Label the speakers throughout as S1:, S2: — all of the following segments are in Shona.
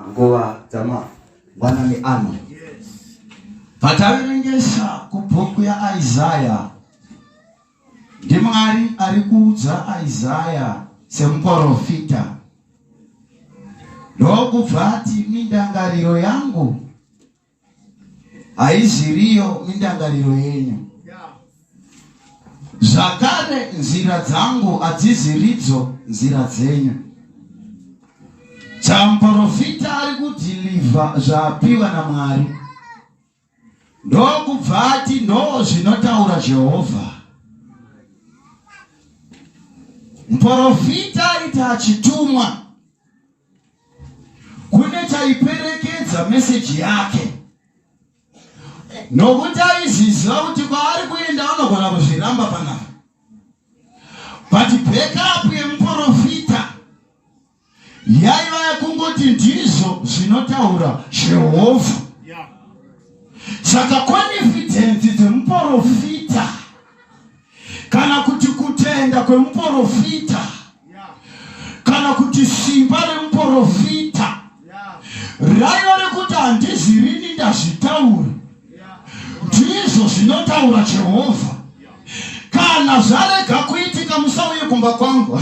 S1: nguva dzamangwanani ano pataverengesa kubhuku yaisaya ndimwari ari kuudza isaya semuporofita ndokubva ati mindangariro yangu haiziriyo mindangariro yenyu zvakare nzira dzangu hadziziridzo nzira dzenyu chamuporofita ari kudhilivha zvaapiwa namwari ndokubva ati ndo zvinotaura jehovha muporofita aita achitumwa kune chaiperekedza meseji yake nokuti aiziziva kuti kwaari kuenda anogona kuzviramba panapa but backup yemuprofita yaiva yakungoti ndizvo zvinotaura jehovha saka confidence dzemuprofita yeah. kana kuti kutenda kwemuporofita kana kuti simba remuporofita raiva rekuti handizvirini ndazvitaura ndizvo zvinotaura jehovha kana zvarega kuitika musauye kumba kwangu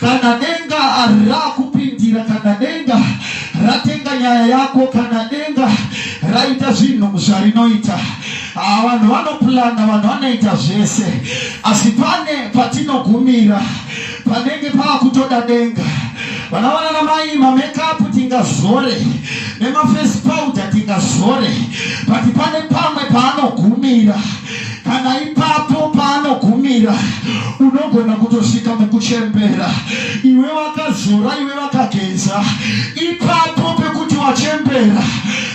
S1: kana denga rakupindira kana denga ratenga nyaya yako kana denga raita zvinhu zvarinoita ah, vanhu vanopulana vanhu vanoita zvese asi pane patinogumira panenge paakutoda denga vana vana namai mamekapu tingazore nemafesi powder tingazore but pane pamwe paanogumira kana ipapo paanogumira unogona kutosvika mukuchembera iwe wakazora iwe vakageza ipapo pekuti wachembera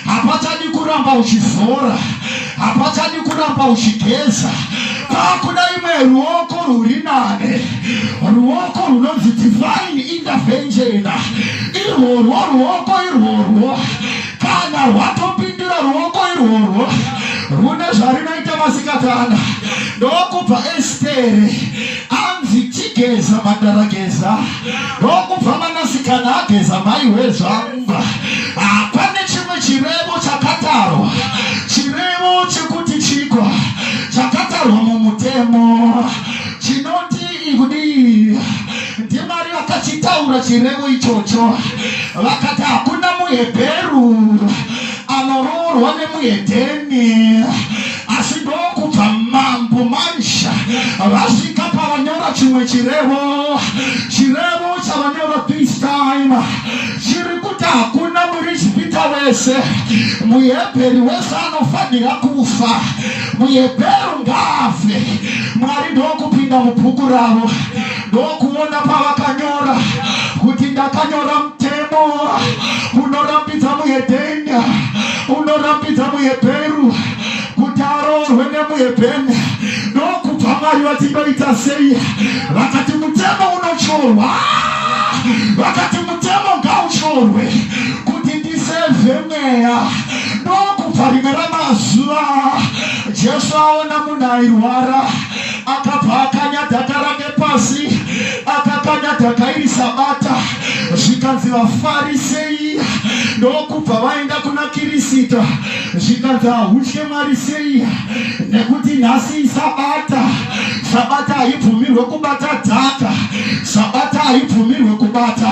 S1: hapachadi kuramba uchizora hapachadi kuramba uchigeza pakuda imwe ruoko rwuri nane ruoko runonzi divine intervention irworwo ruoko irworwo kana hwatopindira ruoko irworwo rune zvarinoita masikati ana ndokubva estere anzi chigeza mandarageza ndokubva manasikana ageza mai wezvangwa hapane chimwe chirevo chakatarwa chirevo chekuti chiko chakatarwa mumutemo chinoti kudii ndimwari vakachitaura chirevo ichocho vakati hakuna muhebheru anoroorwa nemuhedheni asi ndokubva mambo mansha vasvika pavanyora chimwe chirevo chirevo chavanyora this time chiri kuti hakuna murijipita wese muhebheri wese anofanira kufa muhebheru ngaafe mwari ndokupinda mubhuku ravo ndokuona pavakanyora kuti ndakanyora mutemo unorambidza muhedhenya unorambidza muhebheru kuti aroorwe nemuhebheni ndokubva mwari vatindoita sei vakati mutemo unotyorwa vakati mutemo ngauchorwe kuti ndisevhe mweya ndokubva rimwe ramazuva jesu aona munhu airwara akabva akanya dhaka rake pasi akakanya dhaka iri sabata zvikanzi vafarisei ndokubva vaenda kuna kirisita zvikanzi ahutye mwari sei nekuti nhasi isabata sabata haibvumirwe kubata dhaka sabata haibvumirwe kubata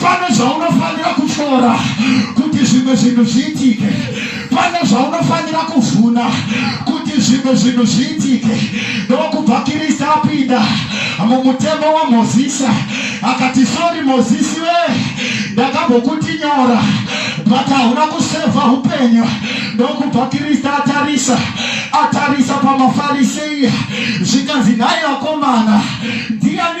S1: pane zvaunofanira kushora kuti zvimwe zvinhu zviitike pane zvaunofanira kuvhuna kuti zvimwe zvinhu zviitike ndokubva kirista apinda mumutemo wamozisi akati sori mozisi we ndakambokuti nyora but hauna kusevha upenyu ndokubva kirista atarisa atarisa pamafarisei zvikanzi nhai vakomana ndiani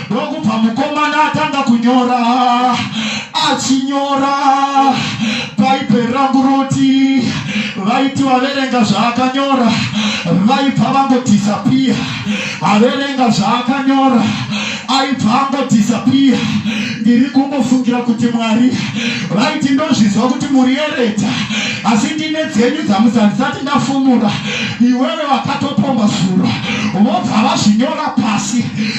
S1: ndokubva mukomana atanga kunyora achinyora bhaibheri rangu roti vaiti vaverenga zvaakanyora vaibva vangodhisapiya averenga zvaakanyora aibva angodhisapiya ndiri kungofungira kuti mwari vaiti ndozvizwa kuti muri yereta asi ndine dzenyu dzamusandisati ndafumura iwewe vakatopomba zuro vobva vazvinyora pasi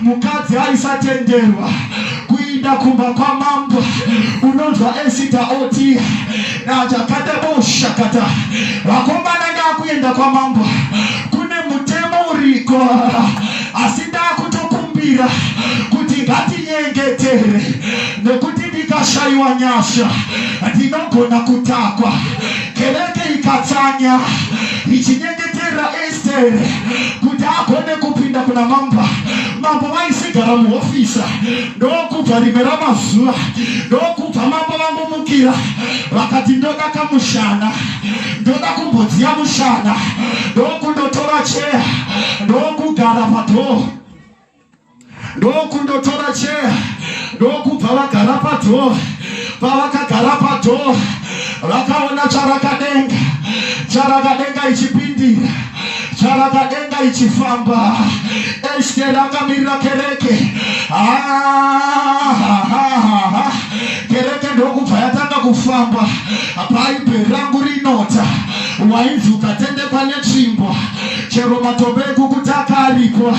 S1: mukadzi aisatenderwa kuinda kumba kwamambo unonzwa esita oti nachakata boushakata vakomana ndakuenda kwamambo kune mutemo uriko asi ndakutokumbira kuti ngatinyengetere nekuti ndikashaiwa nyasha ndinogona kutakwa kereke ikatsanya ichinyengetera Tere, kuti agone kupinda kuna mamba mambo vaisigara muhofisa ndokubva rimwe ramazuva ndokubva mambo vangomukira vakati ndoda kamushana ndoda kumbodziya mushana ndokundotora cheya ndokugara padhoo ndokundotora cheya ndokubva vagara padhoo pavakagara padhoo vakaona charakadenga charakadenga ichipindira charakadenga ichifamba este rakamirira kereke kereke ndokubva yatanga kufamba bhaibheri rangu rinota wainzi ukatendekwa netsvimbo chero matombo ekukuti akaripwa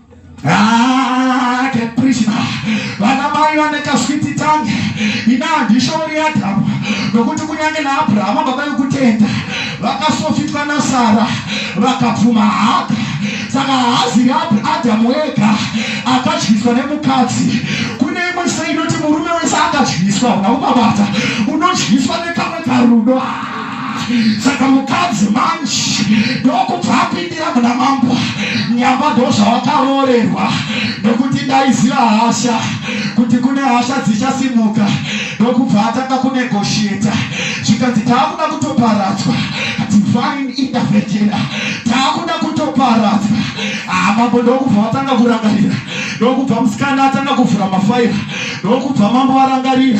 S1: Ah, Krishna vana mai vane kaswiti tange ina handishoori adhamu nokuti kunyange naabhurahama baba vekutenda vakasofitwa nasara vakabvuma haka saka haazi adhamu wega akadyiswa nemukadzi kune imwe se inoti murume wese akadyiswa una umabata unodyiswa nekamwe karudo saka mukadzi manje ndokubva apindira muna mambo nyamba ndozvawakaroorerwa nekuti ndaiziva hasha kuti kune hasha dzichasimuka ndokubva atanga kunegosheta zvikanzi taakuda kutoparadzwa divine intervention taakuda kutoparadzwa ah, mambo ndokubva vatanga kurangarira ndokubva musikana atanga kuvhura mafaira ndokubva mambo varangarira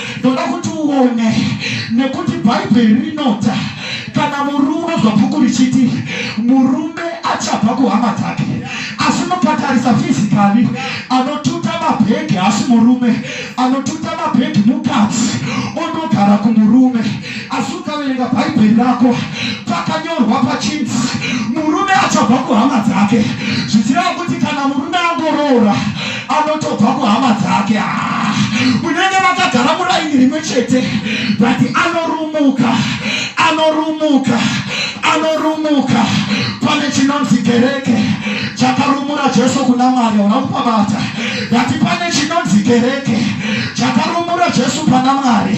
S1: ndoda kuti uone nekuti bhaibheri rinoti kana murume unonzwa bhuku richiti murume achabva kuhama dzake asi mukatarisa fizikali anotuta mabhegi asi murume anotuta mabhegi mukadzi onogara kumurume asi ukaverenga bhaibheri rako pakanyorwa pachinzi murume achabva kuhama dzake zvichireva kuti kana murume angoroora anotobva kuhama dzake ah, munenge makagara muraini rimwe chete but anorumuka anorumuka anorumuka pane chinonzi kereke chakarumura jesu kuna mwari ona kupabata but pane chinonzi kereke chakarumura jesu pana mwari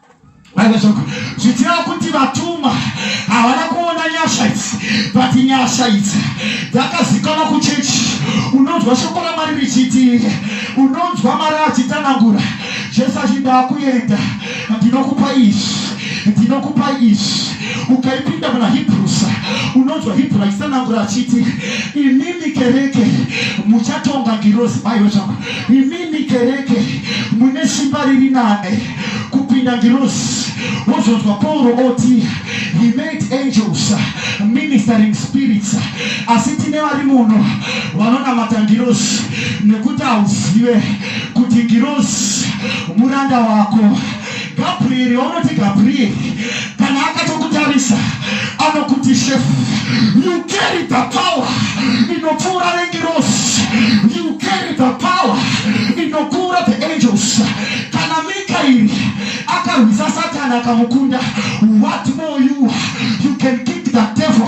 S1: zvichira kuti vatumwa havana kuona nyasha idzi but nyasha idzi dzakazikanwa kuchechi unonzwa shoko ramwari richiti unonzwa mari achitanangura jesu achindaa kuenda ndinokupa izvi ndinokupa izvi ukaipinda muna hebrusa unonzwa hebru achitanangura achiti imimi kereke muchatonga ngirozi maiwe zvako imimi kereke mune simba riri nane kupinda ngirozi wozonzwa pauro oti he made angels ministering spirits asi tine vari muno vanonamata ngirozi nekuti hauzive kuti ngirozi muranda wako gabrieri waunoti gabrieri kana akatokutarisa anokuti shefu you carry the power inopfuura rengirosi you carry the power inokura the angels kana mikairi akarwisa satani akamukunda what more you you can keep the devil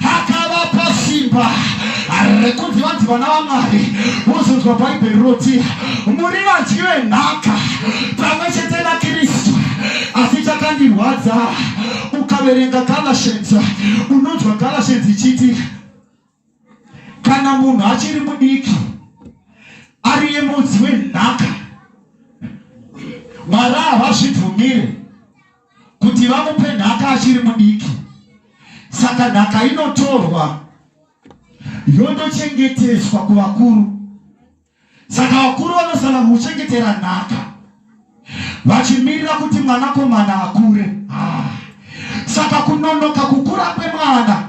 S1: akavapa simba rekunzi vanzi vana vamwari vozonzwa bhaibheri roti muri vadyi venhaka pamwe chete nakristu asi chakandirwadza ukaverenga galatians unonzwa galatians ichiti kana munhu achiri mudiki ari yemudzi wenhaka mwari havazvibvumire kuti vamupe nhaka achiri mudiki saka nhaka inotorwa yondochengeteswa kuvakuru saka vakuru vanosana kuchengetera nhaka vachimirira kuti mwanakomana akure ah. saka kunonoka kukura kwemwana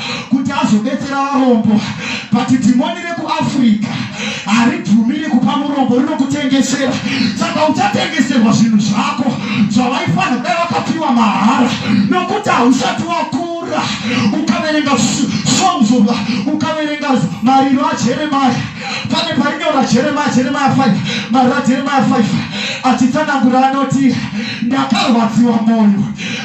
S1: kuti azobetsera varombo but dhimoni rekuafrica haribvumiri kupa murombo rinokutengesera saka uchatengeserwa zvinhu zvako zvavaifanira kudai vakapiwa mahara nokuti hausati wakura ukaverenga songs of ukaverenga mariro ajeremaya pane painyora jeremaya jeremaya 5 mariro ajeremaya 5 achitsanangura anoti ndakarwadziwa mwoyo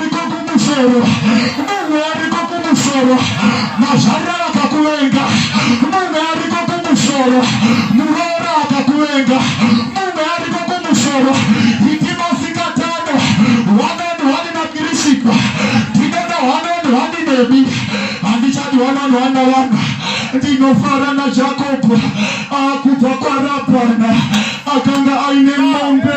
S1: kumusoro munhu ariko kumusoro mazvarira vakakuvenga munhu ariko kumusoro muroora akakuvenga munhu ariko kumusoro itimasikatano wanoni wani nakirisikwa ndinoda wanoni wani nemi handichadi wanoni wana vana ndinofara najakobho akubva kwarabhana akanga aine mombe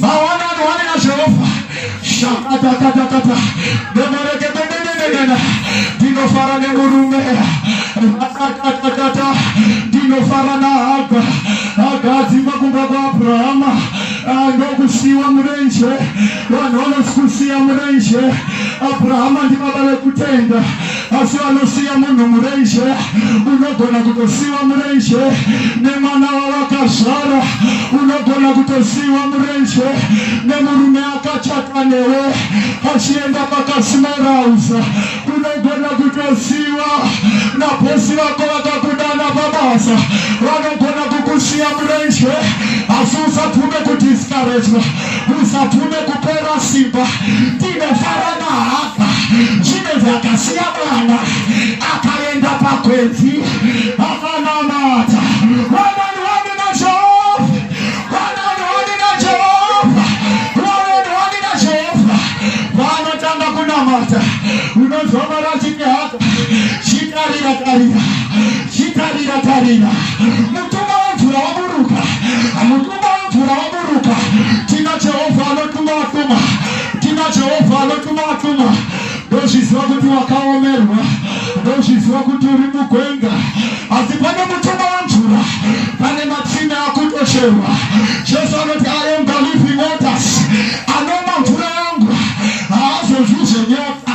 S1: Mawana mawana ya Jehova. Shakata kata kata. Demore ke bende bende bende. Dino fara ne murume. Rata kata kata. Dino fara na haga. Haga zima kumba kwa Abrahama. Ando kusiwa mrenje. Wanono sikusiwa mrenje. Abrahama ndi baba le kutenda. asi vanosiya munhu murenje unogona kutosiwa murenje nemwana wawakazvara unogona kutosiwa murenje nemurume akachata newe achienda pakasimarauza unogona kutosiwa nabosi vako vakakudana pabasa vanogona kukusiya murenje asi usabvume kudiskarejwa usapfume kupera simba tinofara mahaka zvine zvakasiya mwana akaenda pakwedzi akanamata unozovara chingehaka chitarira tarira chitarira tarira mutumba wemvura waburuka mutumba wemvura Buruka. Tina Jehovha anotuma atuma. Tina Jehovha anotuma atuma. Ndozviziva kuti wakaomerwa. Ndozviziva kuti uri mugwenga. Asi pane mutumwa wemvura. Pane matsime akutocherwa. Jesu anoti I am the living waters. Anoma mvura yangu haazozvizve nyota.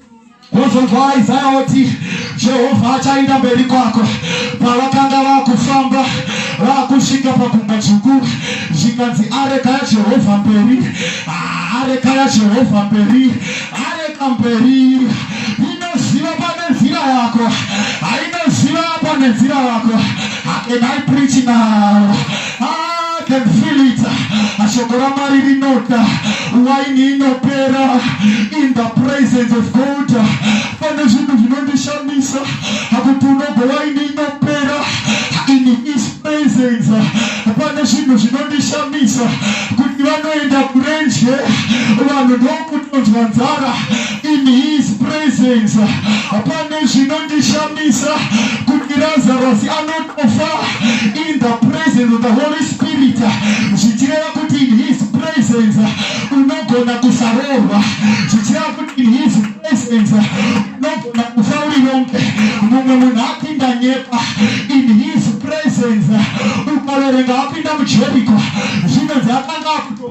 S1: Wozonzwa Isaya oti Jehovha achaenda mberi kwako. Pavakanga vakufamba vakusvika pagungwa dzvuku, zvikanzi areka yaJehovha mberi, areka yaJehovha mberi, areka mberi. Inoziva pane nzira yako, hainoziva pane nzira yako. Am I preaching now? I can feel it. Shoko ramwari rinota waini inopera in the presence of God. Pane zvinhu zvinondishamisa akuti unogo waini inopera in his presence. Pane zvinhu zvinondishamisa kuti vanoenda kurenje vanhu ndokutonzwa nzara in his presence. Pane zvinondishamisa kuti Lazarus anoti kufa in the presence of the holy spirit zvichireva kuti in his presence unogona kusaroorwa zvichireva kuti in his presence unogona kufa uri yonke mumwe munhu apinda nyepa in his presence ukaverenga apinda mujeriko zvinonzi akanga akuto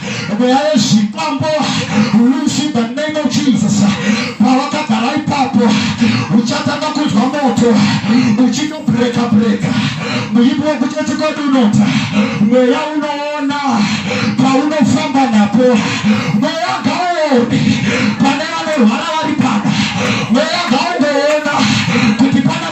S1: mweya yezvikwambo lusi the name of jesus pawakagara ipapo uchatanga kunzwa moto uchitobreka breka muimbi wekuti etikodi unota mweya unoona paunofamba napo mweya ngaoni pane vanorwara vari pana mweya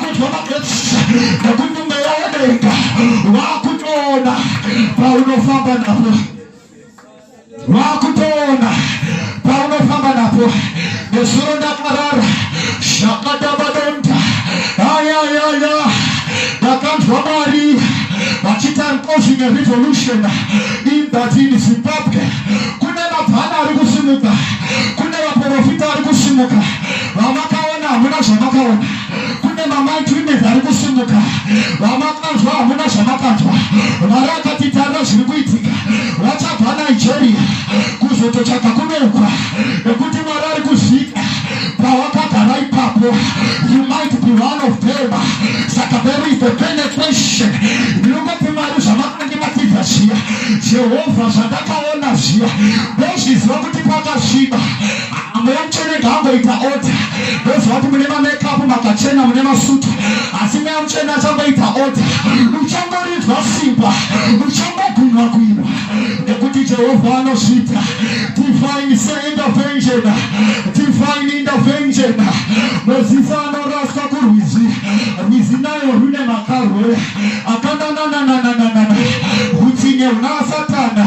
S1: kudya magetsi nekuti mweya wedenga wakutoona paunofamba napo wakutoona paunofamba napo nezuro ndakarara zvakadabadonda ayayaya ndakanzwa mwari vachita causing a revolution in that in zimbabwe kune mabhana ari kusimuka kune vaprofita ari kusimuka vamakaona hamuna zvamakaona kune mamandrinezi ari kusimuka vamakanzwa hamuna zvamakanzwa mwari akatitarira zviri kuitika vachabva nigeria kuzototsvaga kunoukwa nekuti mwari ari kuzviita pawakagara ipapo you might be one of them saka there is the penetration ndinongoti mwari zvamakange matidza zviya jehovha zvandakaona zviya ndozviziva kuti pakasviba mweya mutsvene ngaangoita oda ndoziva kuti mune mamakeup makachena mune masutu asi mweya mutsvene achangoita oda uchangorinzwa simba uchangogunwa gwinwa nekuti jehovha anozviita divine seintervention divine intervention mozisi anoraswa kurwizi rwizi nayo rune makarwe akananananananana utsinye huna satana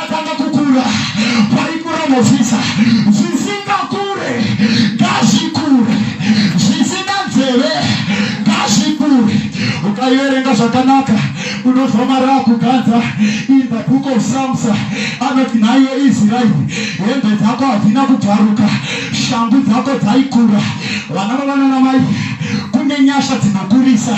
S1: Tanga kukura kwaikura Mozisa, zvisingakure ngazvikure, zvisina nzeve ngazvikure. Ukaiverenga zvakanaka unonzwa mari akuganza in the book of Psalms anoti nhaiwe Israeri, hembe dzako hadzina kubvaruka, shangu dzako dzaikura, vana vavanana mai kune nyasha dzinokurisa.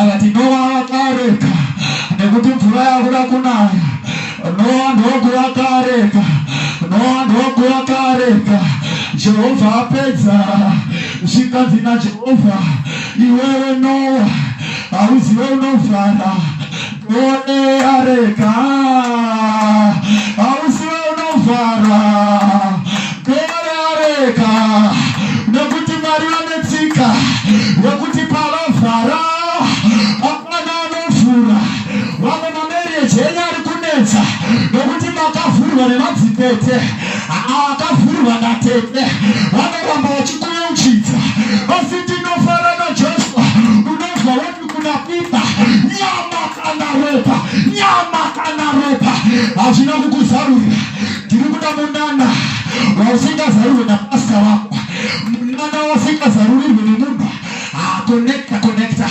S1: akati nowa akareka nekuti mvura yakuda kunaya nowa ndokuva kareka nowa ndokuva kareka jehovha apedza zvikanzi najehovha iwewe nowa hauzive unovhara Goneareka hausi unovharwa goneareka nekuti mwari vane tsika yekuti pavavhara hapana anovhura vamwe mamereji enyu ari kunetsa nekuti makavhurwa nemadzitete akavhurwa natete vanoramba vachikuuchidza asi tinofarana kuna mimba nyama kana ropa nyama kana ropa hazvina kukuzarurira ndiri kuda munana wausingazarurwe napasta wako munana wasingazarurirwe nemunhu akonekta konekta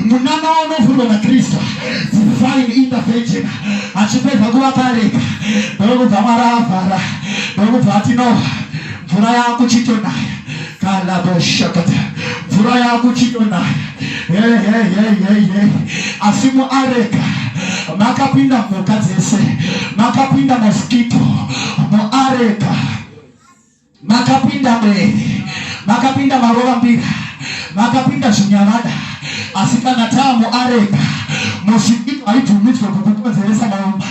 S1: munana waunofurwa nakristu divine intervention achipedza kuvakareka ndokubva mwaravhara ndokubva atinoha mvura yakuchitonaya kalaboshakata mvura yakuchitonaya hehehehehe asi muareka makapinda mhuka dzese makapinda moskito muareka makapinda mwere makapinda marova mbira makapinda zvinyavada asi kana tamu arega mosvikito haibvumidzwe kukukonzeresa marapi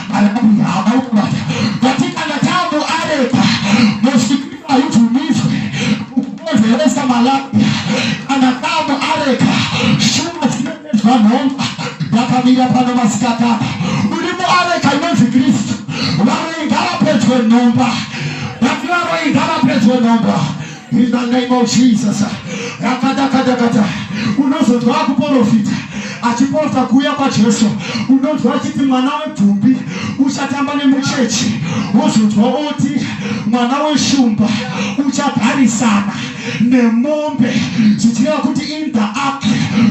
S1: hama ukubata vati kana tamu arega mosvikito haibvumidzwe kukukonzeresa malapi kana tamu arega shuma dzinoedzwa nhomba yakamira pano masikatana uri muareka inonzi kristu varoigara pedyo nhomba vati varoigara pedyo nhomba In the name of Jesus. Rakata kata kata. Unozonzwa akuporofita achiporofita kuuya kwaJesu. Unonzwa achiti mwana webvumbi uchatamba nemuchechi. Wozonzwa oti mwana weshumba uchagarisana nemombe zvichireva kuti in the ark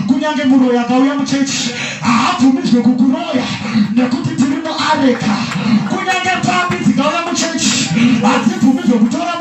S1: kunyange muroyi akauya muchechi haabvumidzwe kukuroya nekuti tiri muareka kunyange papi dzikauya muchechi hadzibvumidzwe kutora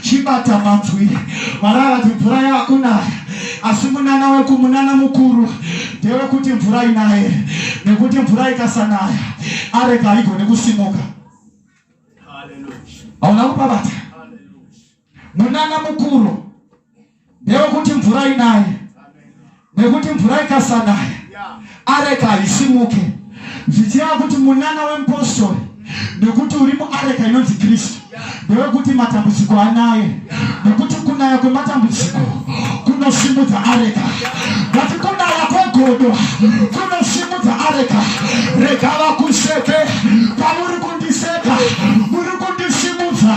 S1: chibata manzwi mwari akati mvura yakunaya asi munana wekumunana mukuru ndewekuti mvura inaye nekuti mvura ikasanaya areka haigone kusimuka hauna kupabata munana mukuru ndewekuti mvura inaye nekuti mvura ikasanaya areka haisimuke zvichireva kuti munana wemupostori nekuti uri muareka inonzi kristu ndewekuti matambudziko anaye nekuti kunaya kwematambudziko kunosimudza areka vati kunaya kwegodo kunosimudza areka rega vakuseke pamuri kundiseka muri kundisimudza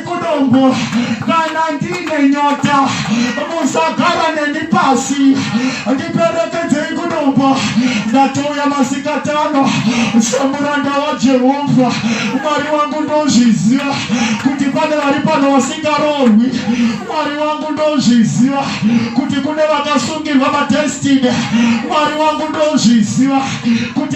S1: kudombo kana ndine nyota musagara neni pasi ndiperekedzei kudombo ndatouya masikatano semuranda wajehovha mwari wangu ndozviziva kuti pane vari pano vasingaroorwi mwari wangu ndozviziva kuti kune vakasungirwa madestiny mwari wangu ndozviziva kuti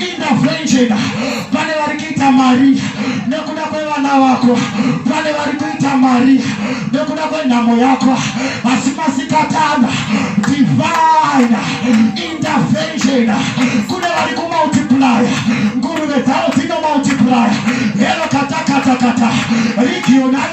S1: intervention pane vari kuita mari nekuda kwevana vako pane vari kuita mari nekuda kwenhamo yako asi masikatana divine intervention kune vari kumultiplya nguruve dzavo dzinomultiplya hero katakatakata regional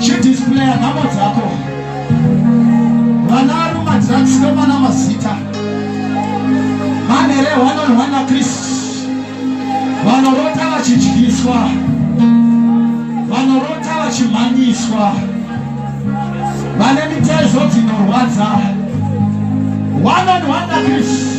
S1: chidisplaya nhamo dzako vana vari mumadrugs nomana mazita manhere hwanonhwana kristu vanorota vachidyiswa vanorota vachimhanyiswa vane mitezo dzinorwadza wanonhwana kristu